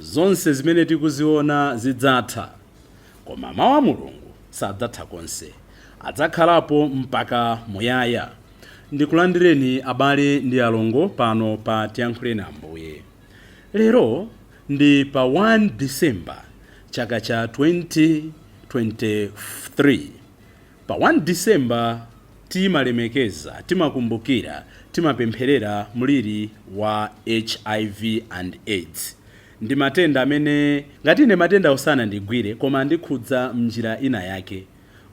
Zonse zimene tikuziona zidzatha, koma Mawu a Mulungu sadzatha konse. Adzakhalapo mpaka muyaya. Ndikulandireni abale ndi alongo pano pa Tiyankhuleni Ambuye. Lero ndi pa 1 December chaka cha 2023. Pa 1 December timalemekeza, timakumbukira, timapempherera mliri wa hiv and aids. Ndi matenda amene ngati ine matendawo sanandigwire koma andikhudza m'njira ina yake.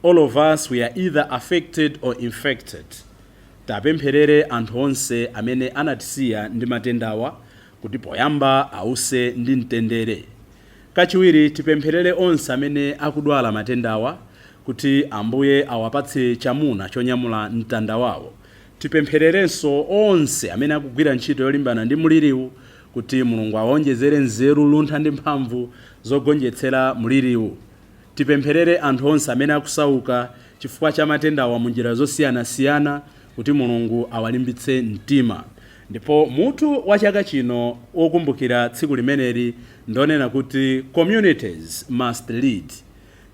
All of us we are either affected or infected. Tipempherere anthu onse amene anatisiya ndi matendawa kuti poyamba awuse ndi mtendere. Kachiwiri, tipempherere onse amene akudwala matendawa kuti Ambuye awapatse chamuna chonyamula mtanda wawo. Tipemphererenso onse amene akugwira ntchito yolimbana ndi mliriwu kuti Mulungu awaonjezere nzeru, luntha ndi mphamvu zogonjetsera mliriwu. Tipempherere anthu onse amene akusauka chifukwa cha matendawa munjira zosiyanasiyana kuti Mulungu awalimbitse mtima. Ndipo mutu wa chaka chino wokumbukira tsiku limeneli ndonena kuti Communities Must Lead.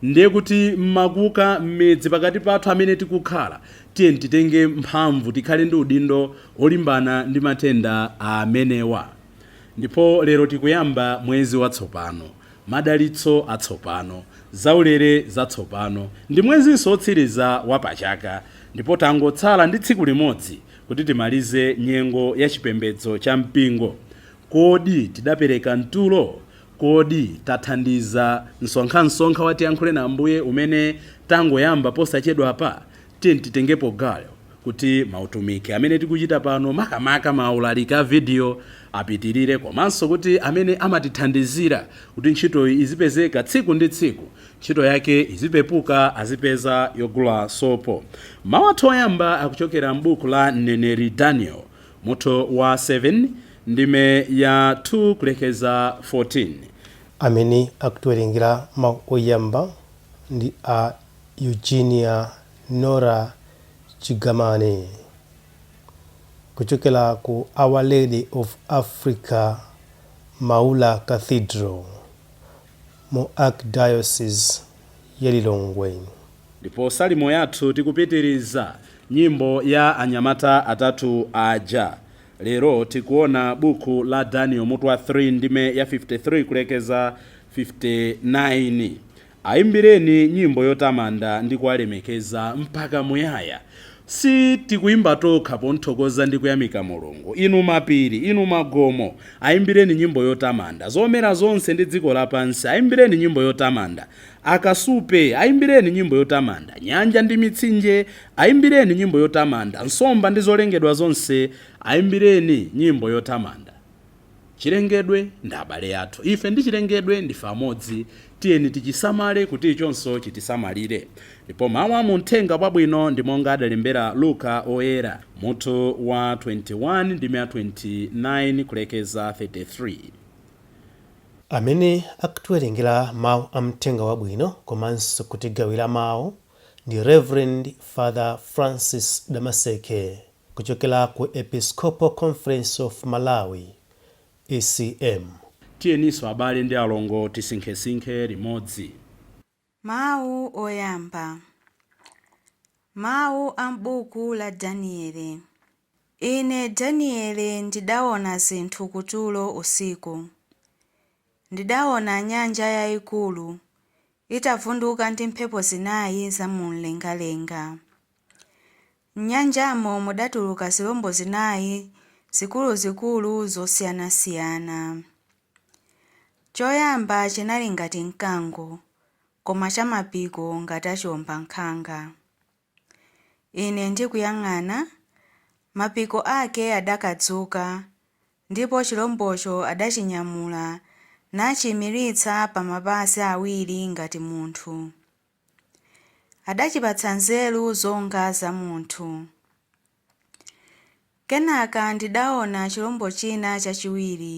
Ndiye kuti m'makuka, m'midzi, pakati pathu amene tikukhala, tiyeni titenge mphamvu, tikhale ndi udindo wolimbana ndi matenda amenewa. Ndipo lero tikuyamba mwezi watsopano, madalitso atsopano, zaulere zatsopano. Ndi mwezinso wotsiriza wa pachaka ndipo tangotsala ndi tsiku limodzi Kuti timalize nyengo ya chipembedzo cha mpingo, kodi tidapereka mtulo? Kodi tathandiza msonkhamsonkha wa Tiyankhuleni Ambuye umene tangoyamba posachedwapa? Tiyeni titengepo gawo kuti mautumiki amene tikuchita pano, makamaka maulaliki a vidiyo, apitirire komanso kuti amene amatithandizira kuti ntchito izipezeka tsiku ndi tsiku, ntchito yake izipepuka azipeza yogula sopo. Mawu athu oyamba akuchokera m'buku la mneneri Daniel mutu wa 7 ndime ya 2 kulekeza 14. Amene akutiwerengera mawu oyamba ndi a Eugenia Nora Chigamane kuchokera ku Our Lady of Africa Maula Cathedral mu Archdiocese ya Lilongwe. Ndipo Salimo yathu tikupitiriza, nyimbo ya anyamata atatu aja. Lero tikuona buku la Daniel mutu wa 3 ndime ya 53 kulekeza 59. Aimbireni nyimbo yotamanda ndi kuwalemekeza mpaka muyaya. Si tikuimba tokha pomuthokoza ndi kuyamika Mulungu. Inu mapiri, inu magomo, aimbireni nyimbo yotamanda. Zomera zonse ndi dziko lapansi, aimbireni nyimbo yotamanda. Akasupe, aimbireni nyimbo yotamanda. Nyanja ndi mitsinje, aimbireni nyimbo yotamanda. Nsomba ndi zolengedwa zonse, aimbireni nyimbo yotamanda. Chilengedwe ndi abale athu. Ife ndi chilengedwe ndife amodzi. Tiyeni tichisamale kuti ichonso chitisamalire. Ndipo mawu a mu Mthenga wabwino ndi monga adalembera Luka Oyera, mutu wa 21 ndime ya 29 kulekeza 33. Amene akutiwerengera mawu a Mthenga wabwino komanso kutigawira mawu ndi Reverend Father Francis Damaseke. Kuchokera ku Episcopal Conference of Malawi, ECM. Tiyeninso abale ndi alongo tisinkhesinkhe limodzi. Mawu oyamba. Mawu a m'buku la Danieli. Ine Danieli ndidaona zinthu kutulo usiku. Ndidaona nyanja yaikulu itavunduka ndi mphepo zinai za mu mlengalenga. M'nyanjamo mudatuluka zilombo zinai zikuluzikulu zosiyanasiyana. Choyamba chinali ngati mkango, koma cha mapiko ngati a chiwombankhanga. Ine ndikuyang'ana, mapiko ake adakadzuka, ndipo chilombocho adachinyamula nachiimiritsa pa mapazi awiri ngati munthu. adachipatsa nzeru zonga za munthu. Kenaka ndidaona chilombo china chachiwiri,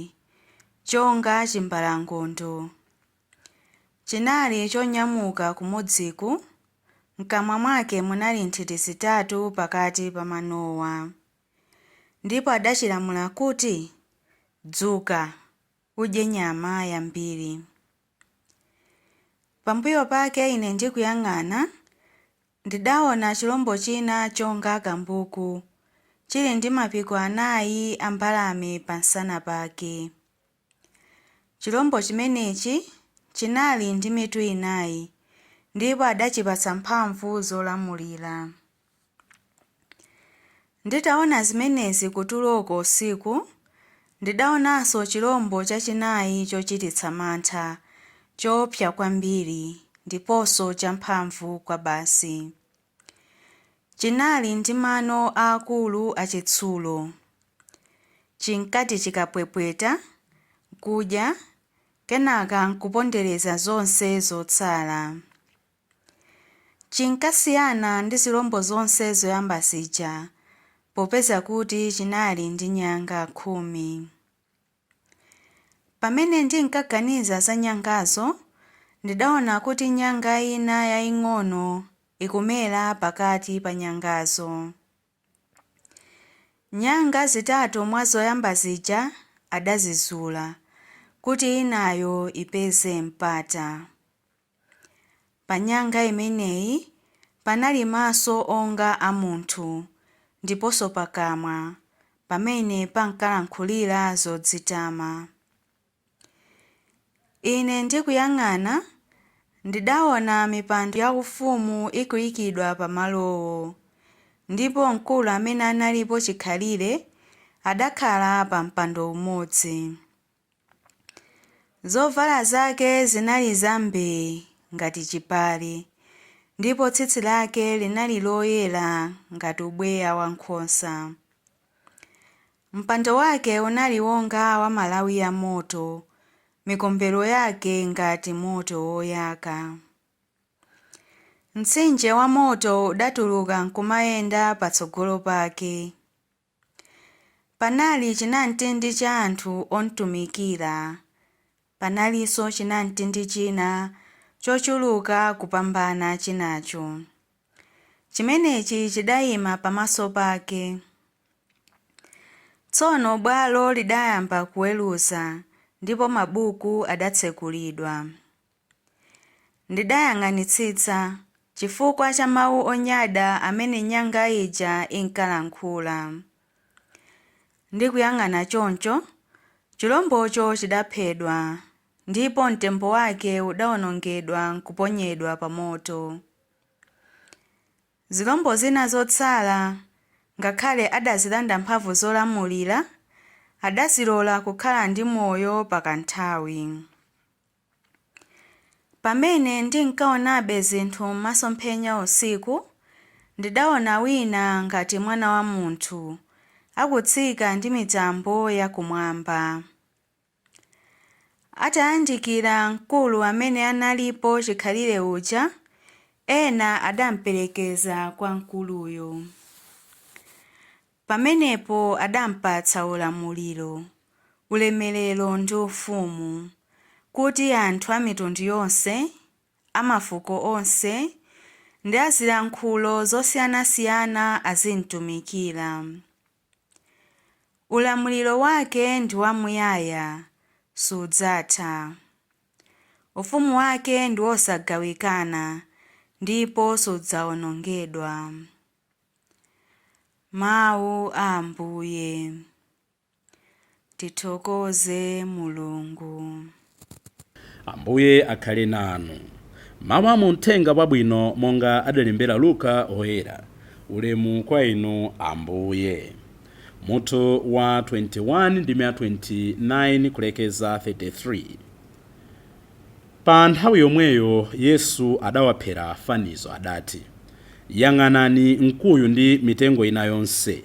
chonga chimbalangondo. Chinali chonyamuka kumodziku, m'kamwa mwake munali nthiti zitatu pakati pa manowa. Ndipo adachilamula kuti, Dzuka, udye nyama yambiri. Pambuyo pake ine ndikuyang'ana, ndidaona chilombo china chonga kambuku, chili ndi mapiko anayi a mbalame pamsana pake. Chilombo chimenechi chinali ndi mitu inayi, ndipo adachipatsa mphamvu zolamulira. Nditaona zimenezi kutuloko usiku, ndidaonanso chilombo chachinayi chochititsa mantha, choopsa kwambiri, ndiponso champhamvu kwabasi. Chinali ndi mano aakulu achitsulo. Chinkati chikapwepweta, n'kudya, kenaka n'kupondereza zonse zotsala. Chinkasiyana ndi zilombo zonse zoyamba zija popeza kuti chinali ndi nyanga khumi. Pamene ndinkaganiza za nyangazo, ndidaona kuti nyanga ina yaing'ono ikumera pakati pa nyangazo. Nyanga zitatu mwa zoyamba zija adazizula, kuti inayo ipeze mpata. Pa nyanga imeneyi panali maso onga a munthu ndiponso pakamwa pamene pankalankhulira zodzitama. Ine ndikuyang'ana, ndidaona mipando yaufumu ikuikidwa pa malowo, ndipo mkulu amene analipo chikhalire adakhala pa mpando umodzi. Zovala zake zinali zambee ngati chipale, ndipo tsitsi lake linali loyera ngati ubweya wa nkhosa. Mpando wake unali wonga wa malawi a moto, mikombero yake ngati moto woyaka. Mtsinje wa moto udatuluka nkumayenda patsogolo pake. Panali chinamtindi cha anthu omtumikira. Panalinso chinamtindi china chochuluka kupambana chinacho. Chimenechi chidaima pamaso pake. Tsono bwalo lidayamba kuweruza, ndipo mabuku adatsekulidwa. Ndidayang'anitsitsa chifukwa cha mawu onyada amene nyanga ija inkalankhula. Ndikuyang'ana choncho, chilombocho chidaphedwa, ndipo mtembo wake udaonongedwa nkuponyedwa pa moto. Zilombo zina zotsala, ngakhale adazilanda mphamvu zolamulira, adazilola kukhala ndi moyo pa kanthawi. Pamene ndinkaonabe zinthu m'masomphenya usiku, ndidaona wina ngati mwana wa munthu, akutsika ndi mitambo yakumwamba. Atayandikira mkulu amene analipo chikhalire uja, ena adamperekeza kwa mkuluyo. Pamenepo adampatsa ulamuliro, ulemerero ndi ufumu, kuti anthu a mitundu yonse, a mafuko onse, ndi a zilankhulo zosiyanasiyana azimtumikira. Ulamuliro wake ndi wamuyaya, sudzatha. Ufumu wake ndi wosagawikana, ndipo sudzaonongedwa. Mawu a Ambuye. Tithokoze Mulungu. Ambuye akhale nanu. Mawu a mu Mthenga Wabwino monga adalembera Luka Woyera. Ulemu kwa Inu, Ambuye. Mutu wa 21 ndime ya 29 kulekeza 33. Pa nthawi yomweyo Yesu adawaphera fanizo, adati, Yang'anani mkuyu ndi mitengo ina yonse.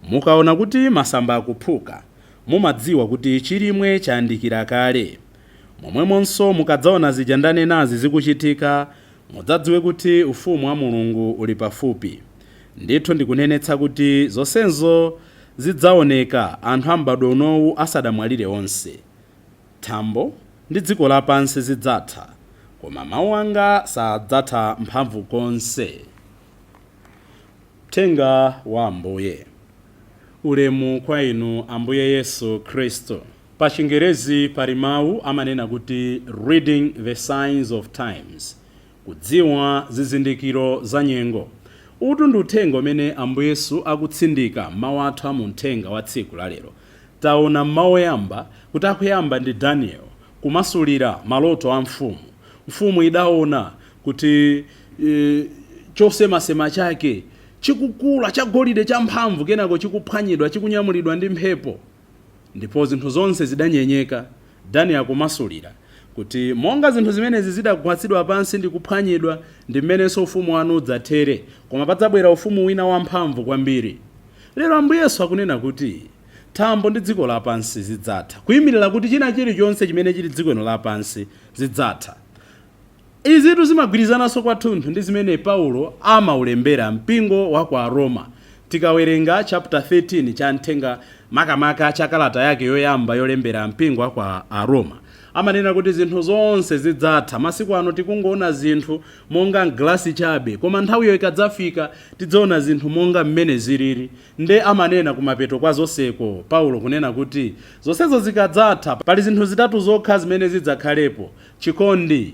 Mukaona kuti masamba akuphuka, mumadziwa kuti chilimwe chayandikira kale. Momwemonso mukadzaona zija ndanenazi zikuchitika, mudzadziwe kuti Ufumu wa Mulungu uli pafupi. Ndithu ndikunenetsa kuti zonsezo zidzaoneka anthu a m'badwo unowu asadamwalire onse. Thambo ndi dziko lapansi zidzatha, koma mau anga sadzatha mphamvu konse. Mthenga wa Ambuye. Ulemu kwa Inu Ambuye Yesu Khristu. Pa chingerezi pali mau amanena kuti Reading the Signs of Times, Kudziwa zizindikiro za nyengo. Utu ndi uthenga umene Ambuye Yesu akutsindika m'mau athu a mu mthenga wa tsiku la lero. Taona m'mau oyamba kuti akuyamba ndi Daniel kumasulira maloto a mfumu. Mfumu idaona kuti chosemasema chake chikukula, chagolide champhamvu, kenako chikuphwanyidwa, chikunyamulidwa ndi mphepo. Ndipo zinthu zonse zidanyenyeka, Daniel akumasulira, kuti monga zinthu zimenezi zidagwatsidwa pansi ndi kuphwanyidwa, ndi m'menenso ufumu wanu udzathere, koma padzabwera ufumu wina wamphamvu kwambiri. Lero Ambuye Yesu akunena kuti thambo ndi dziko lapansi zidzatha, kuimirira kuti china chilichonse chimene chili dziko lino lapansi zidzatha. Izitu zimagwirizananso kwathunthu ndi zimene Paulo amaulembera mpingo wa kwa Aroma. Tikawerenga chaputa 13 cha mthenga makamaka cha kalata yake yoyamba yolembera mpingo wa kwa Aroma, amanena kuti zinthu zonse zidzatha. Masiku ano tikungoona zinthu monga m'galasi chabe, koma nthawiyo ikadzafika tidzaona zinthu monga mmene zilili. Nde amanena kumapeto kwa zonseko Paulo kunena kuti zonsezo zikadzatha, pali zinthu zitatu zokha zimene zidzakhalepo, chikondi,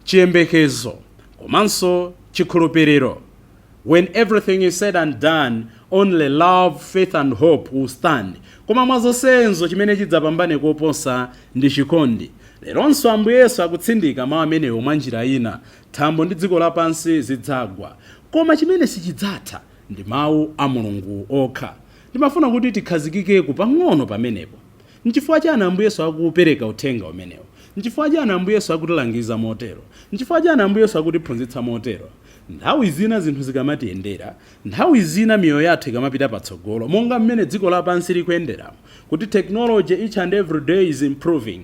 chiyembekezo komanso chikhulupiriro When everything is said and done, only love, faith and hope will stand Koma mwa zonsezo chimene chidzapambane koposa ndi chikondi Leronso Ambuye Yesu akutsindika mawu amenewo mwa njira ina Thambo ndi dziko lapansi zidzagwa, koma chimene sichidzatha ndi mawu a Mulungu okha Ndimafuna kuti tikhazikikepo pang'ono pamenepo Nchifukwa chiyani Ambuye Yesu akupereka Uthenga umenewu? Nchifukwa chiyani Ambuye Yesu akutilangiza motero? Nchifukwa chiyani Ambuye Yesu akutiphunzitsa motero? Nthawi zina zinthu zikamatiyendera, nthawi zina miyoyo yathu ikamapita patsogolo, monga mmene dziko lapansi likuyenderamo, kuti technology each and every day is improving,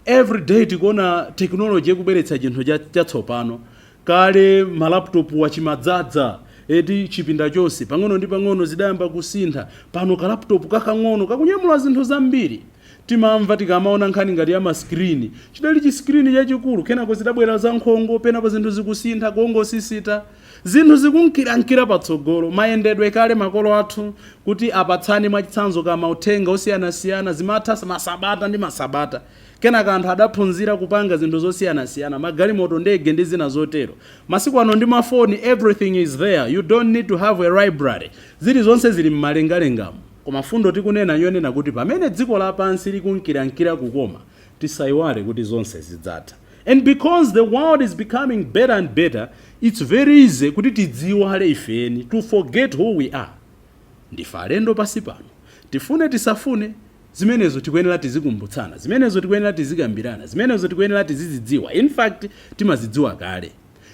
every day tikuona technology ikubweretsa chinthu chatsopano, Kale ma laptop a chimadzadza eti chipinda chonse. Pang'ono ndi pang'ono zidayamba kusintha. Pano ka laptop kakang'ono kakunyamula zinthu zambiri. Timamva tikamaona nkhani ngati ya ma screen. Chidali chi screen chachikulu. Kenako zidabwera za nkhongo. Penapo zinthu zikusintha. Kungosisita. Zinthu zikunkirankira patsogolo. Mayendedwe kale makolo athu kuti apatsane mwachitsanzo ka mauthenga osiyanasiyana zimatha masabata ndi masabata. Kenaka anthu adaphunzira kupanga zinthu zosiyanasiyana, magalimoto, ndege ndi zina zotero. Masiku ano ndi mafoni everything is there, you don't need to have a library. Zilizonse zili m'malengalengamo. Koma fundo tikunena n'yonena kuti pamene dziko lapansi likunkirankira kukoma, tisaiwale kuti zonse zidzatha. And because the world is becoming better and better, it's very easy kuti tidziiwale ife eni, to forget who we are. Ndife alendo pansi pano. Tifune tisafune, zimenezo tikuyenera tizikumbutsana, zimenezo tikuyenera tizikambirana, zimenezo tikuyenera tizizidziwa, in fact timazidziwa kale.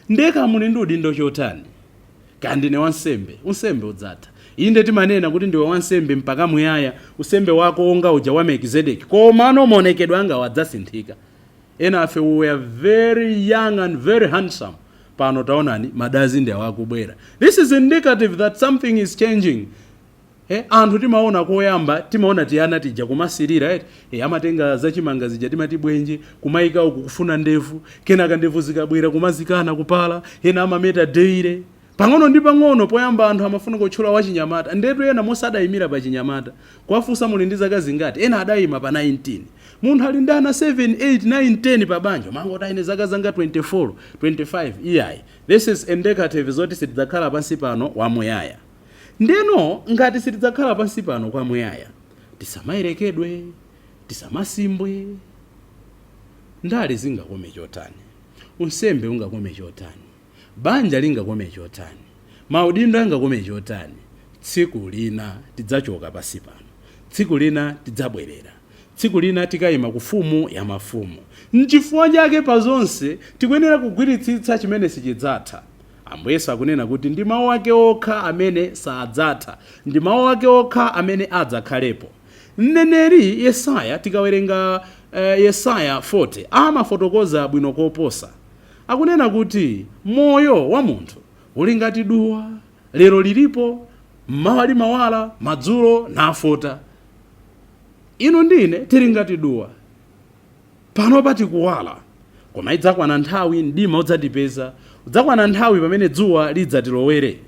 Ndiye kaya muli ndi udindo chotani, kaya ndine wansembe, unsembe udzatha. Inde timanena kuti ndiwe wansembe mpaka muyaya, unsembe wako onga uja wa Melkizedeki, komano maonekedwe angawa adzasinthika. Enafe we were very young and very handsome pano taonani madazi ndi awa akubwera this is indicative that something is changing eh, anthu timaona koyamba timaona tiana tija kumasirira eti eh, amatenga zachimanga zija timati bwenje kumaika uku kufuna ndevu kenaka ndevu zikabwera kumazikana kupala ena amameta daily Pang'ono ndi pang'ono poyamba anthu amafuna kutchula wachinyamata ndetu ena monse adayimira pa chinyamata kuwafunsa muli ndi zaka zingati ena adayima pa 19. Munthu ali ndi ana 7, 8, 9, 10 pa banja umangoti ine zaka zanga 24, 25 iyayi this is indicative zoti sitidzakhala pansi pano wa muyaya. Ndeno ngati sitidzakhala pansi pano kwa muyaya tisamayerekedwe, tisamasimbwe. Ndale zingakome chotani, unsembe ungakome chotani. Banja lingakome chotani, maudindo angakome chotani, tsiku lina tidzachoka pansi pano. Tsiku lina tidzabwerera. Tsiku lina tikaima ku Mfumu ya mafumu. N'chifukwa chake pa zonse tikuyenera kugwiritsitsa chimene sichidzatha. Ambuye Yesu akunena kuti ndi Mau ake okha amene sadzatha. Ndi Mau ake okha amene adzakhalepo. Mneneri Yesaya, tikawerenga Yesaya 40, amafotokoza bwino koposa. Akunena kuti moyo wa munthu uli ngati duwa, lero lilipo, m'mawa limawala, madzulo nafota. Inu ndi ine tili ngati duwa. Panopa tikuwala, koma idzakwana nthawi mdima udzatipeza, udzakwana nthawi pamene dzuwa lidzatilowere.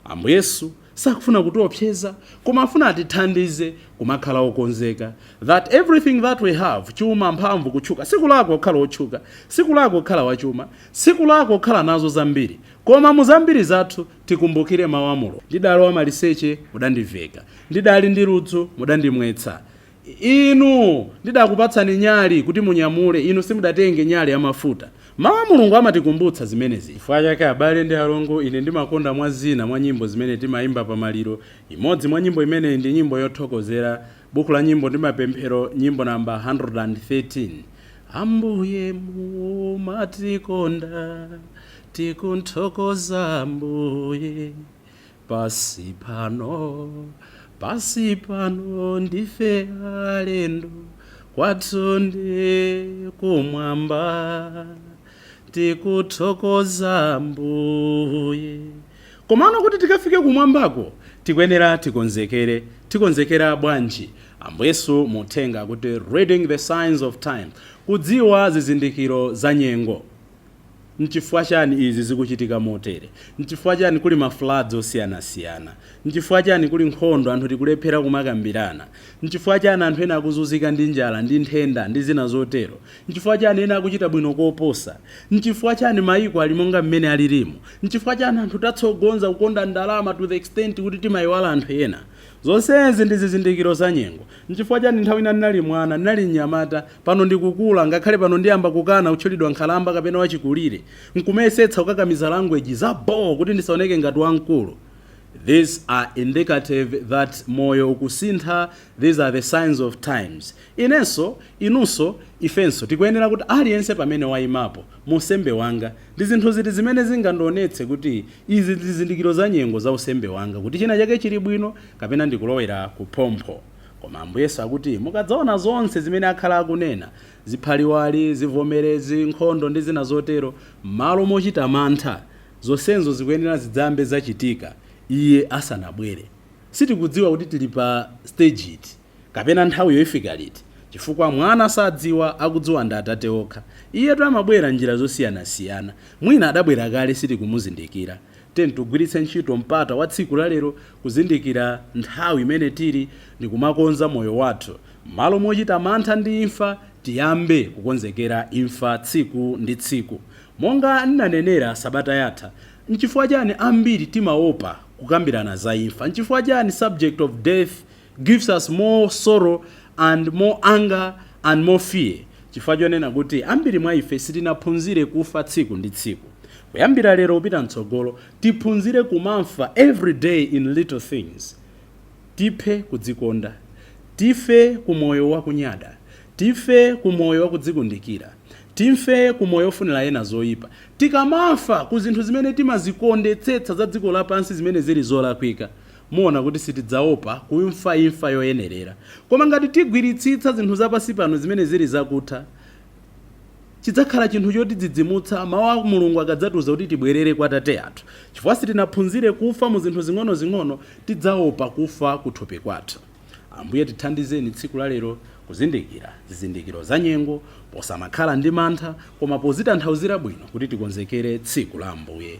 Ambuye Yesu Sakufuna kutiopseza koma afuna atithandize kumakhala okonzeka that everything that we have, chuma, mphamvu, kutchuka, sikulakwa kukhala otchuka, sikulakwa kukhala wachuma, sikulakwa kukhala nazo zambiri koma mu zambiri zathu tikumbukire mau a Mulungu. Ndidali wamaliseche mudandiveka, ndidali ndi ludzu mudandimwetsa, Inu ndidakupatsani nyali kuti munyamule, inu simudatenge nyali ya mafuta. Mawu a Mulungu amatikumbutsa zimenezi. Chifukwa chake, abale ndi alongo, ine ndimakonda mwa zina mwa nyimbo zimene timaimba pa maliro. Imodzi mwa nyimbo imeneyi ndi nyimbo yothokozera. Buku la Nyimbo ndi Mapemphero, Nyimbo number 113. Ambuye mumatikonda, tikuthokoza Ambuye. Pansi pano, pansi pano ndife alendo, kwathu ndi kumwamba. Tikuthokoza Mbuye. Komano kuti tikafike kumwambako, tikuyenera tikonzekere. Tikonzekera bwanji? Ambuye Yesu mu uthenga akuti Reading the Signs of Time, kudziwa zizindikiro za nyengo. Nchifukwa chani izi zikuchitika motere? Nchifukwa chani kuli ma floods osiyanasiyana? Nchifukwa chani kuli nkhondo, anthu tikulephera kumakambirana? Nchifukwa chani anthu ena akuzunzika ndi njala ndi nthenda ndi zina zotero? Nchifukwa chani ena akuchita bwino koposa? Nchifukwa chani maiko ali monga mmene alirimu? Nchifukwa chani anthu tatsogoza kukonda ndalama to the extent kuti timaiwala anthu ena? Zonsezi ndi zizindikiro za nyengo. Nchifukwa chani nthawi ina ndinali mwana, ndinali mnyamata, Pano ndikukula, ngakhale pano ndiyamba kukana kutchulidwa nkhalamba kapena wachikulire, nkumayesetsa kukakamiza language za bho kuti ndisaoneke ngati wamkulu. These are indicative that moyo ukusintha, these are the signs of times. Inenso, inunso, ifenso tikuyenera kuti aliyense pamene wayimapo, mu unsembe wanga, ndi zinthu ziti zimene zingandionetse kuti izi zizindikiro za nyengo za unsembe wanga kuti china chake chili bwino kapena ndikulowera kuphompho. Koma Ambuye Yesu akuti, Mukadzaona zonse zimene akhala akunena, ziphaliwali, zivomerezi, nkhondo ndi zina zotero, m'malo mochita mantha, zonsezo zikuyenera zidzambe zachitika Iye asanabwere. Sitikudziwa kuti tili pa stage iti, kapena nthawiyo ifika liti, chifukwa Mwana sadziwa, akudziwa ndi Atate okha. Iyetu amabwera m'njira zosiyanasiyana. Mwina adabwera kale sitikumuzindikira. Tigwiritse ntchito mpata wa tsiku la lero kuzindikira nthawi imene tili ndikumakonza moyo wathu. Mmalo mochita mantha ndi imfa, tiyambe kukonzekera imfa tsiku ndi tsiku. Monga ndinanenera sabata yatha, nchifukwa chani ambiri timaopa kukambirana za imfa? Nchifukwa chani subject of death gives us more sorrow and more anger and more fear chifukwa chonena kuti ambiri mwa ife sitinaphunzire kufa tsiku ndi tsiku kuyambira lero kupita mtsogolo tiphunzire kumafa every day in little things tiphe kudzikonda tife ku moyo wakunyada tife ku moyo wakudzikundikira tife ku moyo ofunira ena zoyipa tikamafa ku zinthu zimene timazikondetsetsa za dziko lapansi zimene zili zolakwika Muona kuti sitidzaopa kumfa imfa yoyenerera. Koma ngati tigwiritsitsa zinthu za pansi pano zimene zili zakutha, chidzakhala chinthu chotidzidzimutsa mawu a Mulungu akadzatiuza kuti tibwerere kwa Atate athu. Chifukwa sitinaphunzire kufa mu zinthu zing'onozing'ono, tidzaopa kufa kuthupi kwathu. Ambuye tithandizeni tsiku la lero kuzindikira zizindikiro za nyengo, posamakhala ndi mantha, koma pozitanthauzira bwino kuti tikonzekere tsiku la Ambuye.